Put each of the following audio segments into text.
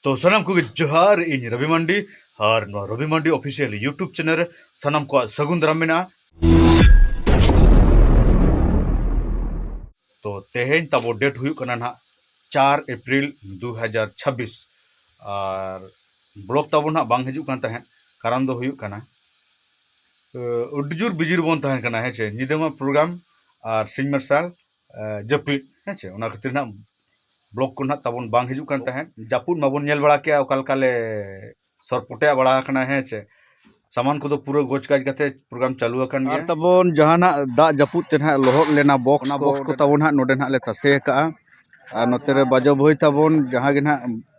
ᱛᱚ ᱥᱟᱱᱟᱢ ᱠᱚᱜᱮ ᱡᱚᱦᱟᱨ ᱤᱧ ᱨᱚᱵᱤ ᱢᱟᱱᱰᱤ ᱟᱨ ᱱᱚᱣᱟ Robi Mandi official YouTube channel ᱨᱮ ᱥᱟᱱᱟᱢ ᱠᱚᱣᱟᱜ ᱥᱟᱹᱜᱩᱱ ᱫᱟᱨᱟᱢ ᱢᱮᱱᱟᱜᱼᱟ ᱛᱚ ᱛᱮᱦᱮᱧ ᱛᱟᱵᱚ ᱰᱮᱴ ᱦᱩᱭᱩᱜ ᱠᱟᱱᱟ ᱱᱟᱦᱟᱜ ᱪᱟᱨ ᱮᱯᱨᱤᱞ ᱫᱩ ᱦᱟᱡᱟᱨ ᱪᱷᱟᱵᱵᱤᱥ ᱟᱨ ᱵᱞᱚᱜ ᱛᱟᱵᱚ ᱱᱟᱦᱟᱜ ᱵᱟᱝ ᱦᱤᱡᱩᱜ ᱠᱟᱱ ᱛᱟᱦᱮᱸᱫ ᱠᱟᱨᱚᱱ ᱫᱚ ᱦᱩᱭᱩᱜ ᱠᱟᱱᱟ ᱟᱹᱰᱤ ᱡᱳᱨ ᱵᱤᱡᱤ ᱨᱮᱵᱚᱱ ᱛᱟᱦᱮᱱ ᱠᱟᱱᱟ ᱦᱮᱸ ᱪᱮ ᱧᱤᱫᱟᱹ ᱢᱟ ᱯᱨᱳᱜᱨᱟᱢ ᱟᱨ ᱥᱤᱧ ᱢᱟᱨᱥᱟᱞ ᱡᱟᱹᱯᱤᱫ ᱦᱮᱸ ᱪᱮ ᱚᱱᱟ ᱠᱷᱟᱹᱛᱤᱨ ᱱᱟᱦᱟᱜ ᱵᱞᱚᱠ ᱠᱚ ᱱᱟᱦᱟᱜ ᱛᱟᱵᱚᱱ ᱵᱟᱝ ᱦᱤᱡᱩᱜ ᱠᱟᱱ ᱛᱟᱦᱮᱸᱫ ᱡᱟᱹᱯᱩᱫ ᱢᱟᱵᱚᱱ ᱧᱮᱞ ᱵᱟᱲᱟ ᱠᱮᱜᱼᱟ ᱚᱠᱟ ᱞᱮᱠᱟ ᱞᱮ ᱥᱚᱨ ᱯᱚᱴᱮᱜ ᱵᱟᱲᱟ ᱟᱠᱟᱱᱟ ᱦᱮᱸ ᱥᱮ ᱥᱟᱢᱟᱱ ᱠᱚᱫᱚ ᱯᱩᱨᱟᱹ ᱜᱚᱡ ᱜᱟᱡ ᱠᱟᱛᱮ ᱯᱨᱳᱜᱨᱟᱢ ᱪᱟᱹᱞᱩ ᱟᱠᱟᱱ ᱜᱮᱭᱟ ᱛᱟᱵᱚᱱ ᱡᱟᱦᱟᱱᱟᱜ ᱫᱟᱜ ᱡᱟᱹᱯᱩᱫ ᱛᱮ ᱱᱟᱦᱟᱜ ᱞᱚᱦᱚᱫ ᱞᱮᱱᱟ ᱵᱚᱠᱥ ᱚᱱᱟ ᱵᱚᱠᱥ ᱠᱚ ᱛᱟᱵᱚᱱ ᱱᱟᱦᱟᱜ ᱱᱚᱰᱮ ᱱᱟᱦᱟᱜ ᱞᱮ ᱛᱟᱥᱮ ᱟᱠᱟᱜᱼᱟ ᱟᱨ ᱱᱚᱛᱮ ᱨᱮ ᱵᱟᱡᱚ ᱵᱷᱟᱹᱭ ᱛᱟᱵᱚᱱ ᱡᱟᱦᱟᱸ ᱜᱮ ᱱᱟᱦᱟᱜ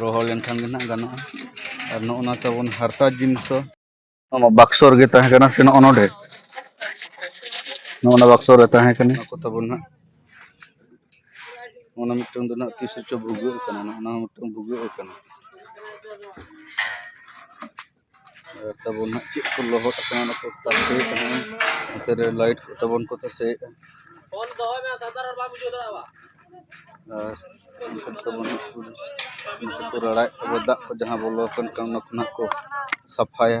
ᱨᱚᱦᱚᱲ ᱞᱮᱱᱠᱷᱟᱱ ᱜᱮ ᱱᱟᱦᱟᱜ ᱜᱟᱱᱚᱜᱼᱟ ᱟᱨ ᱱᱚᱜᱼᱚ ᱱᱟ ᱛᱟᱵᱚᱱ ᱦᱟᱨᱛᱟ ᱡᱤᱱᱤᱥ ᱫᱚ ᱱᱚᱣᱟ ᱵᱟᱠᱥᱚ ᱨᱮᱜᱮ ᱛᱟᱦᱮᱸ ᱠᱟᱱᱟ ᱥᱮ ᱱᱚᱜᱼᱚ ᱱᱚᱰᱮ ᱱᱚᱜᱼᱚ ᱱᱟ ᱵᱟᱠᱥᱚ ᱨᱮ ᱛᱟᱦᱮᱸ ᱠᱟᱱᱟ ᱱᱚᱣᱟ ᱠᱚ ᱛᱟᱵᱚᱱ ᱱᱟᱦᱟᱜ ᱚᱱᱟ ᱢᱤᱫᱴᱟᱝ ᱫᱚ ᱱᱟᱦᱟᱜ ᱛᱤᱥ ᱨᱮᱪᱚ ᱵᱷᱩᱜᱟᱹᱜ ᱠᱟᱱᱟ ᱱᱟᱦᱟᱜ ᱚᱱᱟ ᱦᱚᱸ ᱢᱤᱫᱴᱟᱝ ᱵᱷᱩᱜᱟᱹᱜ ᱠᱟᱱᱟ ᱛᱟᱵᱚᱱ ᱦᱟᱸᱜ ᱪᱮᱫ ᱠᱚ ᱞᱚᱦᱚᱫ ᱟᱠᱟᱱᱟ ᱚᱱᱟ ᱠᱚ ᱛᱟᱥᱮ ᱠᱟᱱᱟ ᱱᱚᱛᱮ ᱨᱮ ᱞᱟᱭᱤᱴ ᱠᱚ ᱛᱟᱵᱚᱱ ᱠᱚ ᱛᱟᱥᱮᱭᱮᱫᱼᱟ ᱟᱨ ᱚᱱᱠᱟ ᱛᱟᱵᱚᱱ ᱦᱟᱸᱜ ᱠᱚ ᱱᱚᱛᱮ ᱠᱚ ᱨᱟᱲᱟᱭᱮᱫ ᱛᱟᱵᱚᱱ ᱫᱟᱜ ᱠᱚ ᱡᱟᱦᱟᱸ ᱵᱚᱞᱚ ᱟᱠᱟᱱ ᱠᱷᱟᱱ ᱚᱱᱟ ᱠᱚ ᱱᱟᱦᱟᱜ ᱠᱚ ᱥᱟᱯᱷᱟᱭᱟ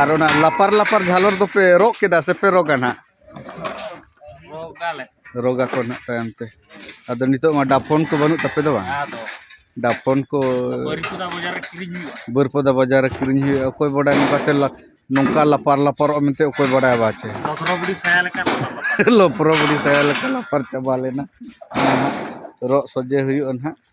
ᱟᱨ ᱚᱱᱟ ᱞᱟᱯᱟᱨ ᱞᱟᱯᱟᱨ ᱡᱷᱟᱞᱚᱨ ᱫᱚᱯᱮ ᱨᱚᱜ ᱠᱮᱫᱟ ᱥᱮᱯᱮ ᱨᱚᱜᱟ ᱱᱟᱦᱟᱜ ᱨᱚᱜᱟ ᱠᱚ ᱱᱟᱦᱟᱜ ᱛᱟᱭᱚᱢ ᱛᱮ ᱟᱫᱚ ᱱᱤᱛᱚᱜ ᱢᱟ ᱰᱟᱯᱷᱚᱱ ᱠᱚ ᱵᱟᱹᱱᱩᱜ ᱛᱟᱯᱮ ᱫᱚ ᱵᱟᱝ ᱰᱟᱯᱷᱚᱱ ᱠᱚ ᱵᱟᱹᱨᱯᱚᱫᱟ ᱵᱟᱡᱟᱨ ᱨᱮ ᱠᱤᱨᱤᱧ ᱦᱩᱭᱩᱜᱼᱟ ᱚᱠᱚᱭ ᱵᱟᱰᱟᱭ ᱱᱚᱝᱠᱟᱛᱮ ᱱᱚᱝᱠᱟ ᱞᱟᱯᱟᱨ ᱞᱟᱯᱟᱨᱚᱜᱼᱟ ᱢᱮᱱᱛᱮ ᱚᱠᱚᱭ ᱵᱟᱰᱟᱭ ᱵᱟ ᱪᱮ ᱞᱚᱯᱨᱚ ᱵᱩᱰᱤ ᱥᱟᱭᱟ ᱞᱮᱠᱟ ᱞᱟᱯᱟᱨ ᱪᱟᱵᱟ ᱞᱮᱱᱟ ᱨᱚᱜ ᱥᱚᱡᱷᱮ ᱦᱩᱭᱩᱜᱼᱟ ᱱᱟᱦᱟᱜ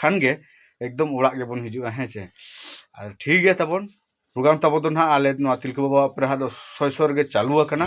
ᱠᱷᱟᱱ ᱜᱮ ᱮᱠᱫᱚᱢ ᱚᱲᱟᱜ ᱜᱮᱵᱚᱱ ᱦᱤᱡᱩᱜᱼᱟ ᱦᱮᱸ ᱥᱮ ᱟᱨ ᱴᱷᱤᱠ ᱜᱮᱭᱟ ᱛᱟᱵᱚᱱ ᱯᱨᱳᱜᱨᱟᱢ ᱛᱟᱵᱚ ᱫᱚ ᱱᱟᱦᱟᱜ ᱟᱞᱮ ᱱᱚᱣᱟ ᱛᱤᱞᱠᱟᱹ ᱵᱟᱵᱟ ᱟᱯᱮ ᱨᱮᱦᱟᱜ ᱫᱚ ᱥᱚᱭ ᱥᱚᱭ ᱨᱮᱜᱮ ᱪᱟᱹᱞᱩ ᱟᱠᱟᱱᱟ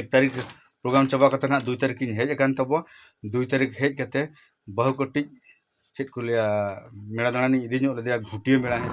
ᱮᱠ ᱛᱟᱹᱨᱤᱠᱷ ᱯᱨᱳᱜᱨᱟᱢ ᱪᱟᱵᱟ ᱠᱟᱛᱮ ᱱᱟᱜ ᱫᱩᱭ ᱛᱟᱹᱨᱤᱠᱷ ᱤᱧ ᱦᱮᱡ ᱟᱠᱟᱱ ᱛᱟᱵᱚ ᱫᱩᱭ ᱛᱟᱹᱨᱤᱠᱷ ᱦᱮᱡ ᱠᱟᱛᱮ ᱵᱟᱹᱦᱩ ᱠᱟᱹᱴᱤᱡ ᱪᱮᱫ ᱠᱚ ᱞᱟᱹᱭᱟ ᱢᱮᱲᱟ ᱫᱟᱬᱟᱱᱤᱧ ᱤᱫᱤ ᱧᱚᱜ ᱞᱮᱫᱮᱭᱟ ᱜᱷᱩᱴᱤᱭᱟᱹ ᱢᱮᱲᱟ ᱦᱮᱸ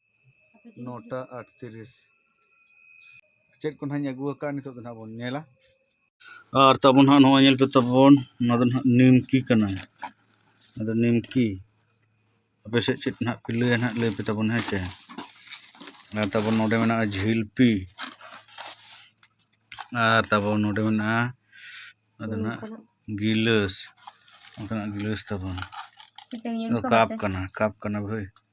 ᱱᱚᱴᱟ ᱟᱴᱛᱨᱤᱥ ᱪᱮᱫ ᱠᱚ ᱱᱟᱦᱟᱜ ᱤᱧ ᱟᱹᱜᱩ ᱟᱠᱟᱫᱼᱟ ᱱᱤᱛᱚᱜ ᱫᱚ ᱱᱟᱦᱟᱜ ᱵᱚᱱ ᱧᱮᱞᱟ ᱟᱨ ᱛᱟᱵᱚᱱ ᱱᱟᱦᱟᱜ ᱱᱚᱣᱟ ᱧᱮᱞ ᱯᱮ ᱛᱟᱵᱚᱱ ᱱᱚᱣᱟ ᱫᱚ ᱱᱟᱦᱟᱜ ᱱᱤᱢᱠᱤ ᱠᱟᱱᱟ ᱟᱫᱚ ᱱᱤᱢᱠᱤ ᱟᱯᱮ ᱥᱮᱫ ᱪᱮᱫ ᱱᱟᱦᱟᱜ ᱯᱮ ᱞᱟᱹᱭᱟ ᱱᱟᱦᱟᱜ ᱞᱟᱹᱭ ᱯᱮ ᱛᱟᱵᱚᱱ ᱦᱮᱸ ᱪᱮ ᱟᱨ ᱛᱟᱵᱚᱱ ᱱᱚᱰᱮ ᱢᱮᱱᱟᱜᱼᱟ ᱡᱷᱤᱞᱯᱤ ᱟᱨ ᱛᱟᱵᱚᱱ ᱱᱚᱰᱮ ᱢᱮᱱᱟᱜᱼᱟ ᱟᱫᱚ ᱱᱟᱦᱟᱜ ᱜᱤᱞᱟᱹᱥ ᱚᱱᱠᱟᱱᱟᱜ ᱜᱤᱞᱟᱹᱥ ᱛᱟᱵᱚᱱ ᱠᱟᱯ ᱠᱟᱱᱟ ᱠᱟᱯ ᱠᱟᱱᱟ ᱵᱷᱟᱹᱭ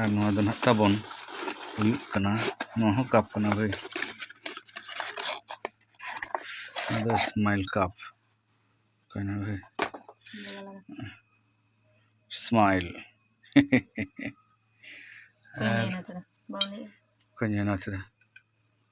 ᱟᱨ ᱱᱚᱣᱟ ᱫᱚ ᱱᱟᱦᱟᱜ ᱛᱟᱵᱚᱱ ᱦᱩᱭᱩᱜ ᱠᱟᱱᱟ ᱱᱚᱣᱟ ᱦᱚᱸ ᱠᱟᱯ ᱠᱟᱱᱟ ᱵᱷᱟᱹᱭ ᱱᱚᱣᱟ ᱫᱚ ᱥᱢᱟᱭᱤᱞ ᱠᱟᱯ ᱠᱟᱱᱟ ᱵᱷᱟᱹᱭ ᱥᱢᱟᱭᱤᱞ ᱟᱨ ᱠᱚᱧᱮ ᱱᱟᱛᱷᱨᱟ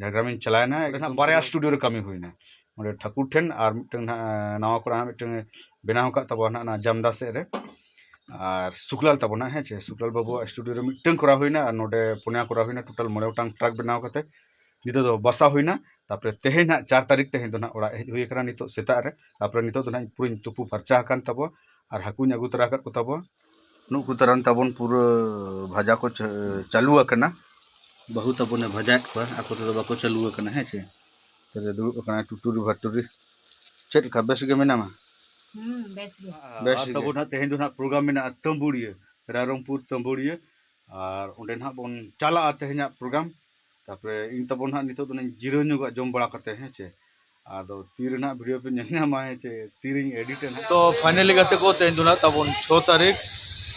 ᱡᱷᱟᱲᱜᱨᱟᱢ ᱤᱧ ᱪᱟᱞᱟᱣ ᱮᱱᱟ ᱚᱸᱰᱮ ᱦᱟᱸᱜ ᱵᱟᱨᱭᱟ ᱥᱴᱩᱰᱤᱭᱳ ᱨᱮ ᱠᱟᱹᱢᱤ ᱦᱩᱭ ᱮᱱᱟ ᱚᱸᱰᱮ ᱴᱷᱟᱹᱠᱩᱨ ᱴᱷᱮᱱ ᱟᱨ ᱢᱤᱫᱴᱟᱝ ᱦᱟᱸᱜ ᱱᱟᱣᱟ ᱠᱚᱨᱮ ᱦᱟᱸᱜ ᱢᱤᱫᱴᱟᱝ ᱵᱮᱱᱟᱣ ᱟᱠᱟᱫ ᱛᱟᱵᱚᱱᱟ ᱦᱟᱸᱜ ᱚᱱᱟ ᱡᱟᱢᱫᱟ ᱥᱮᱫ ᱨᱮ ᱟᱨ ᱥᱩᱠᱞᱟᱞ ᱛᱟᱵᱚᱱᱟ ᱦᱮᱸ ᱪᱮ ᱥᱩᱠᱞᱟᱞ ᱵᱟᱹᱵᱩᱣᱟᱜ ᱥᱴᱩᱰᱤᱭᱳ ᱨᱮ ᱢᱤᱫᱴᱟᱝ ᱠᱚᱨᱟᱣ ᱦᱩᱭ ᱮᱱᱟ ᱟᱨ ᱱᱚᱰᱮ ᱯᱩᱱᱭᱟ ᱠᱚᱨᱟᱣ ᱦᱩᱭ ᱮᱱᱟ ᱴᱳᱴᱟᱞ ᱢᱚᱬᱮ ᱜᱚᱴᱟᱝ ᱴᱨᱟᱠ ᱵᱮᱱᱟᱣ ᱠᱟᱛᱮ ᱱᱤᱛᱚᱜ ᱫᱚ ᱵᱟᱥᱟ ᱦᱩᱭ ᱮᱱᱟ ᱛᱟᱨᱯᱚᱨᱮ ᱛᱮᱦᱮᱧ ᱦᱟᱸᱜ ᱪᱟᱨ ᱛᱟᱹᱨᱤᱠᱷ ᱛᱮᱦᱮᱧ ᱫᱚ ᱦᱟᱸᱜ ᱚᱲᱟᱜ ᱦᱮᱡ ᱦᱩᱭ ᱟᱠᱟᱱᱟ ᱱᱤᱛᱚᱜ ᱥᱮᱛᱟᱜ ᱨᱮ ᱛᱟᱨᱯᱚᱨᱮ ᱱᱤᱛᱚᱜ ᱫᱚ ᱦᱟᱸᱜ ᱯᱩᱨᱟᱹᱧ ᱛᱩᱯᱩ ᱯᱷᱟᱨᱪᱟ ᱟᱠᱟᱱ ᱛᱟᱵᱚᱣᱟ ᱟᱨ ᱦᱟᱹᱠᱩᱧ ᱟᱹᱜᱩ ᱛᱚᱨᱟ ᱟᱠᱟᱫ ᱠᱚ ᱛᱟᱵᱚᱣᱟ ᱱᱩᱜ ᱠᱚ ᱛᱟᱨᱟᱱ ᱛᱟᱵᱚᱱ ᱯᱩᱨᱟᱹ ᱵᱷᱟᱡᱟ ᱠᱚ ᱪᱟᱹᱞᱩ ᱟᱠᱟᱱᱟ ᱵᱟᱹᱦᱩ ᱛᱟᱵᱚᱱᱮ ᱵᱷᱟᱡᱟᱭᱮᱫ ᱠᱚᱣᱟ ᱟᱠᱚ ᱛᱮᱫᱚ ᱵᱟᱠᱚ ᱪᱟᱹᱞᱩ ᱟᱠᱟᱱᱟ ᱦᱮᱸ ᱪᱮ ᱛᱟᱦᱞᱮ ᱫᱩᱲᱩᱵ ᱟᱠᱟᱱᱟ ᱴᱩᱴᱩᱨᱤ ᱵᱷᱟᱴᱩᱨᱤ ᱪᱮᱫ ᱞᱮᱠᱟ ᱵᱮᱥ ᱜᱮ ᱢᱮᱱᱟᱢᱟ ᱵᱮᱥ ᱜᱮ ᱵᱮᱥ ᱜᱮ ᱛᱟᱵᱚᱱ ᱦᱟᱸᱜ ᱛᱮᱦᱮᱧ ᱫᱚ ᱦᱟᱸᱜ ᱯᱨᱳᱜᱨᱟᱢ ᱢᱮᱱᱟᱜᱼᱟ ᱛᱟᱹᱢᱵᱩᱲᱤᱭᱟᱹ ᱨᱟᱭᱨᱚᱝᱯᱩᱨ ᱛᱟᱹᱢᱵᱩᱲᱤᱭᱟᱹ ᱟᱨ ᱚᱸᱰᱮ ᱦᱟᱸᱜ ᱵᱚᱱ ᱪᱟᱞᱟᱜᱼᱟ ᱛᱮᱦᱮᱧᱟᱜ ᱯᱨᱳᱜᱨᱟᱢ ᱛᱟᱯᱚᱨᱮ ᱤᱧ ᱛᱟᱵᱚᱱ ᱦᱟᱸᱜ ᱱᱤᱛᱚᱜ ᱫᱚ ᱡᱤᱨᱟᱹᱣ ᱧᱚᱜᱚᱜᱼᱟ ᱡᱚᱢ ᱵᱟᱲᱟ ᱠᱟᱛᱮ ᱦᱮᱸ ᱪᱮ ᱟᱫᱚ ᱛᱤ ᱨᱮᱱᱟᱜ ᱵᱷᱤᱰᱤᱭᱳ ᱯᱮ ᱧᱮᱞ ᱧᱟᱢᱟ ᱪᱮ ᱛᱤ ᱨᱮᱧ ᱮᱰᱤᱴ ᱮᱱᱟ ᱛᱚ ᱯᱷᱟᱭᱱᱟᱞᱤ ᱜᱟᱛᱮ ᱠᱚ ᱛᱮᱦᱮᱧ ᱫᱚ ᱱᱟᱜ ᱛᱟᱵᱚᱱ ᱪᱷᱚ ᱛᱟᱹᱨᱤᱠᱷ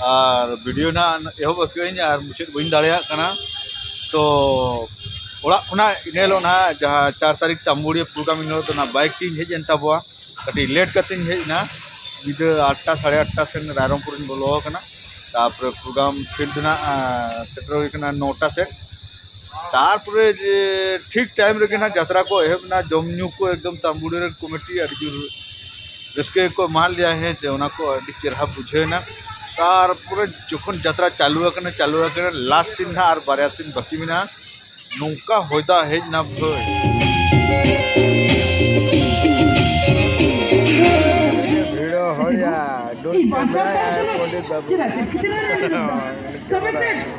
ᱟᱨ ᱵᱷᱤᱰᱤᱭᱳ ᱱᱟᱜ ᱮᱦᱚᱵ ᱟᱹᱠᱟᱹᱧ ᱟᱨ ᱢᱩᱪᱟᱹᱫ ᱵᱟᱹᱧ ᱫᱟᱲᱮᱭᱟᱜ ᱠᱟᱱᱟ ᱛᱚ ᱚᱲᱟᱜ ᱠᱷᱚᱱᱟᱜ ᱤᱱᱟᱹ ᱦᱤᱞᱳᱜ ᱱᱟᱜ ᱡᱟᱦᱟᱸ ᱪᱟᱨ ᱛᱟᱹᱨᱤᱠᱷ ᱛᱟᱢᱵᱩᱲᱤᱭᱟᱹ ᱯᱨᱳᱜᱨᱟᱢ ᱤᱱᱟᱹ ᱦᱤᱞᱳᱜ ᱫᱚ ᱱᱟᱜ ᱵᱟᱭᱤᱠ ᱛᱤᱧ ᱦᱮᱡ ᱮᱱ ᱛᱟᱵᱚᱣᱟ ᱠᱟᱹᱴᱤᱡ ᱞᱮᱴ ᱠᱟᱛᱮᱧ ᱦᱮᱡ ᱮᱱᱟ ᱧᱤᱫᱟᱹ ᱟᱴᱴᱟ ᱥᱟᱲᱮ ᱟᱴᱴᱟ ᱥᱮᱱ ᱨᱟᱭᱨᱚᱝᱯᱩᱨᱤᱧ ᱵᱚᱞᱚ ᱟᱠᱟᱱᱟ ᱛᱟᱨᱯᱚᱨᱮ ᱯᱨᱳᱜᱨᱟᱢ ᱯᱷᱤᱞᱰ ᱱᱟᱜ ᱥᱮᱴᱮᱨ ᱦᱩᱭ ᱟᱠᱟᱱᱟ ᱱᱚᱴᱟ ᱥᱮᱫ ᱛᱟᱨᱯᱚᱨᱮ ᱴᱷᱤᱠ ᱴᱟᱭᱤᱢ ᱨᱮᱜᱮ ᱦᱟᱸᱜ ᱡᱟᱛᱨᱟ ᱠᱚ ᱮᱦᱚᱵ ᱮᱱᱟ ᱡᱚᱢ ᱧᱩ ᱠᱚ ᱮᱠᱫᱚᱢ ᱛᱟᱹᱢᱵᱩᱲᱤ ᱨᱮᱱ ᱠᱚᱢᱤᱴᱤ ᱟᱹᱰᱤ ᱡᱳᱨ ᱨᱟᱹᱥᱠᱟᱹ ᱜᱮᱠᱚ ᱮᱢᱟᱫ ᱞᱮᱭᱟ ᱦᱮᱸ ᱥᱮ ᱚᱱᱟ ᱠᱚ ᱟᱹᱰᱤ ᱪᱮᱦᱨᱟ ᱵᱩᱡᱷᱟᱹᱣ ᱮᱱᱟ ᱛᱟᱨᱯᱚᱨᱮ ᱡᱚᱠᱷᱚᱱ ᱡᱟᱛᱨᱟ ᱪᱟᱹᱞᱩ ᱟᱠᱟᱱᱟ ᱪᱟᱹᱞᱩ ᱟᱠᱟᱱᱟ ᱞᱟᱥᱴ ᱥᱤᱱ ᱦᱟᱸᱜ ᱟᱨ ᱵᱟᱨᱭᱟ ᱥᱤᱱ ᱵᱟᱹᱠᱤ ᱢᱮᱱᱟᱜᱼᱟ ᱱᱚᱝᱠᱟ ᱦᱚᱭ ᱫᱟᱜ ᱦᱮᱡ ᱮᱱᱟ ᱵᱷᱟᱹᱭ ᱵᱷᱤᱲᱚ ᱦᱚᱭᱟ ᱰᱩᱱ ᱯᱟᱸᱡᱟᱭᱟ ᱯᱚᱸᱰᱤᱛ ᱵᱟᱹᱵᱩ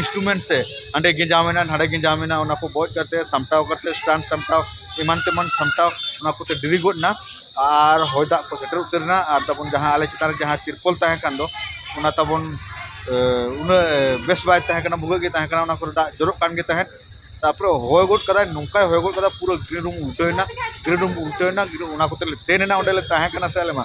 ᱤᱱᱥᱴᱨᱩᱢᱮᱱᱴ ᱥᱮ ᱦᱟᱸᱰᱮ ᱜᱮᱸᱡᱟᱣ ᱢᱮᱱᱟᱜᱼᱟ ᱱᱟᱰᱮ ᱜᱮᱸᱡᱟᱣ ᱢᱮᱱᱟᱜᱼᱟ ᱚᱱᱟ ᱠᱚ ᱵᱚᱡ ᱠᱟᱛᱮ ᱥᱟᱢᱴᱟᱣ ᱠᱟᱛᱮ ᱥᱴᱮᱱᱰ ᱥᱟᱢᱴᱟᱣ ᱮᱢᱟᱱ ᱛᱮᱢᱟᱱ ᱥᱟᱢᱴᱟᱣ ᱚᱱᱟ ᱠᱚᱛᱮ ᱰᱮᱨᱤ ᱜᱚᱫ ᱮᱱᱟ ᱟᱨ ᱦᱚᱭ ᱫᱟᱜ ᱠᱚ ᱥᱮᱴᱮᱨ ᱩᱛᱟᱹᱨ ᱮᱱᱟ ᱟᱨ ᱛᱟᱵᱚᱱ ᱡᱟᱦᱟᱸ ᱟᱞᱮ ᱪᱮᱛᱟᱱ ᱨᱮ ᱡᱟᱦᱟᱸ ᱛᱤᱨᱯᱳᱞ ᱛᱟᱦᱮᱸ ᱠᱟᱱ ᱫᱚ ᱚᱱᱟ ᱛᱟᱵᱚᱱ ᱩᱱᱟᱹᱜ ᱵᱮᱥ ᱵᱟᱭ ᱛᱟᱦᱮᱸ ᱠᱟᱱᱟ ᱵᱷᱩᱜᱟᱹᱜ ᱜᱮ ᱛᱟᱦᱮᱸ ᱠᱟᱱᱟ ᱚᱱᱟ ᱠᱚᱨᱮ ᱫᱟᱜ ᱡᱚᱨᱚᱜ ᱠᱟᱱ ᱜᱮ ᱛᱟᱦᱮᱸᱫ ᱛᱟᱨᱯᱚᱨᱮ ᱦᱚᱭ ᱜᱚᱫ ᱠᱟᱫᱟᱭ ᱱᱚᱝᱠᱟᱭ ᱦᱚᱭ ᱜᱚᱫ ᱠᱟᱫᱟ ᱯᱩᱨᱟᱹ ᱜᱨᱤᱱ ᱨᱩᱢ ᱩᱞᱴᱟᱹᱣ ᱮᱱᱟ ᱜᱨᱤᱱ ᱨᱩᱢ ᱩᱞᱴᱟᱹᱣ ᱮᱱᱟ ᱚᱱᱟ ᱠᱚᱛᱮ ᱞᱮ ᱛᱮᱱ ᱮᱱᱟ ᱚᱸᱰᱮ ᱞᱮ ᱛᱟᱦᱮᱸ ᱠᱟᱱᱟ ᱥᱮ ᱟᱞᱮ ᱢᱟ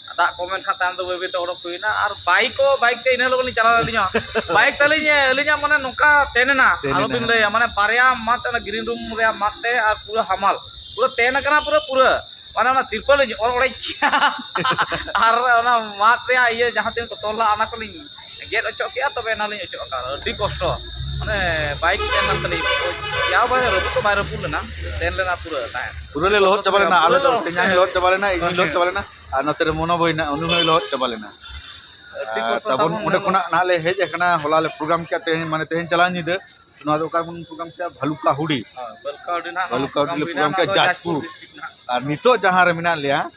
ᱫᱟᱜ ᱠᱚᱢ ᱮᱱᱠᱷᱟᱱ ᱛᱟᱭᱚᱢ ᱫᱚ ᱵᱟᱹᱭ ᱵᱟᱹᱭᱛᱮ ᱚᱰᱚᱠ ᱦᱩᱭᱱᱟ ᱟᱨ ᱵᱟᱭᱤᱠ ᱦᱚᱸ ᱵᱟᱭᱤᱠ ᱛᱮ ᱤᱱᱟᱹ ᱦᱤᱞᱳᱜ ᱞᱤᱧ ᱪᱟᱞᱟᱣ ᱞᱮᱱᱟ ᱟᱹᱞᱤᱧ ᱦᱚᱸ ᱵᱟᱭᱤᱠ ᱛᱟᱹᱞᱤᱧ ᱟᱹᱞᱤᱧᱟᱜ ᱢᱟᱱᱮ ᱱᱚᱝᱠᱟ ᱛᱮᱱ ᱮᱱᱟ ᱟᱞᱚᱵᱤᱱ ᱞᱟᱹᱭᱟ ᱢᱟᱱᱮ ᱵᱟᱨᱭᱟ ᱢᱟᱫ ᱚᱱᱟ ᱜᱨᱤᱱ ᱨᱩᱢ ᱨᱮᱭᱟᱜ ᱢᱟᱫ ᱛᱮ ᱟᱨ ᱯᱩᱨᱟᱹ ᱦᱟᱢᱟᱞ ᱯᱩᱨᱟᱹ ᱛᱮᱱ ᱟᱠᱟᱱᱟ ᱯᱩᱨᱟᱹ ᱯᱩᱨᱟᱹ ᱢᱟᱱᱮ ᱚᱱᱟ ᱛᱤᱨᱯᱚᱞ ᱞᱤᱧ ᱚᱨ ᱚᱲᱮᱡ ᱠᱮᱫᱼᱟ ᱟᱨ ᱚᱱᱟ ᱢᱟᱫ ᱨᱮᱭᱟᱜ ᱤᱭᱟᱹ ᱡᱟᱦᱟᱸ ᱛᱤᱱᱟᱹᱜ ᱠᱚ ᱛᱚᱞ ᱞᱮᱫᱼᱟ ᱚᱱᱟ ᱠᱚᱞᱤᱧ ᱜᱮᱫ ᱚᱪᱚᱜ ᱠᱮᱜᱼᱟ ᱛᱚᱵᱮ ᱮᱱᱟ ᱞᱤᱧ ᱚᱪᱚᱜ ᱟᱠᱟᱫ ᱟᱹᱰᱤ ᱠᱚᱥᱴᱚ ᱢᱟᱱᱮ ᱵᱟᱭ ᱪᱤᱠᱟᱹ ᱞᱮᱱ ᱛᱟᱹᱞᱤᱧ ᱡᱟᱣ ᱵᱟᱭ ᱨᱟᱹᱯᱩᱫ ᱫᱚ ᱵᱟᱭ ᱨᱟᱹᱯᱩᱫ ᱞᱮᱱᱟ ᱛᱮᱱ ᱞᱮᱱᱟ ᱯᱩᱨᱟᱹ ᱛᱟᱦᱮᱸᱫ ᱯᱩᱨᱟᱹ ᱞᱮ ᱞᱚᱦᱚᱫ ᱪᱟᱵᱟ ᱞᱮᱱᱟ ᱟᱞᱮ ᱫᱚ ᱛᱮᱧᱟᱝ ᱞᱚᱦᱚᱫ ᱪᱟᱵᱟ ᱞᱮᱱᱟ ᱤᱧ ᱞᱚᱦᱚᱫ ᱪᱟᱵᱟ ᱞᱮᱱᱟ ᱟᱨ ᱱᱚᱛᱮ ᱨᱮ ᱢᱚᱱᱚ ᱵᱷᱟᱹᱭ ᱱᱟᱜ ᱩᱱᱤ ᱦᱚᱸᱭ ᱞᱚᱦᱚᱫ ᱪᱟᱵᱟ ᱞᱮᱱᱟ ᱛᱟᱵᱚᱱ ᱚᱸᱰᱮ ᱠᱷᱚᱱᱟᱜ ᱱᱟᱦᱟᱜ ᱞᱮ ᱦᱮᱡ ᱟᱠᱟᱱᱟ ᱦᱚᱞᱟ ᱞᱮ ᱯᱨᱳᱜᱨᱟᱢ ᱠᱮᱫ ᱛᱮᱦᱮᱧ ᱢᱟᱱᱮ ᱛᱮᱦᱮᱧ ᱪᱟᱞᱟᱣ ᱧᱤᱫᱟᱹ ᱱᱚᱣᱟ ᱫᱚ ᱚᱠᱟ ᱵᱚᱱ ᱯᱨᱳᱜᱨᱟᱢ ᱠᱮᱫᱟ ᱵᱷᱟᱞᱩᱠᱟ ᱦᱩᱰᱤ ᱵᱷᱟᱞᱩᱠᱟ ᱦᱩᱰᱤ ᱞᱮ ᱯᱨᱳᱜᱨᱟᱢ ᱠᱮᱫᱟ ᱡᱟᱡᱽᱯᱩᱨ ᱟᱨ ᱱᱤᱛᱚᱜ ᱡᱟᱦᱟᱸ ᱨᱮ ᱢᱮᱱᱟᱜ ᱞᱮᱭᱟ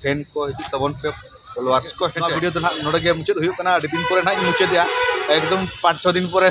ᱴᱨᱮᱱ ᱠᱚ ᱦᱤᱡᱩᱜ ᱛᱟᱵᱚᱱ ᱯᱮ ᱯᱷᱚᱞᱳᱣᱟᱨᱥ ᱠᱚ ᱱᱚᱣᱟ ᱵᱷᱤᱰᱤᱭᱳ ᱫᱚ ᱱᱟᱦᱟᱜ ᱱᱚᱰᱮ ᱜᱮ ᱢᱩᱪᱟᱹᱫ ᱦᱩᱭᱩᱜ ᱠᱟᱱᱟ ᱟᱹᱰᱤ ᱫᱤᱱ ᱯᱚᱨᱮ ᱱᱟᱦᱟᱜ ᱤᱧ ᱢᱩᱪᱟᱹᱫᱮᱜᱼᱟ ᱮᱠᱫᱚᱢ ᱯᱟᱸᱪ ᱪᱷᱚ ᱫᱤᱱ ᱯᱚᱨᱮ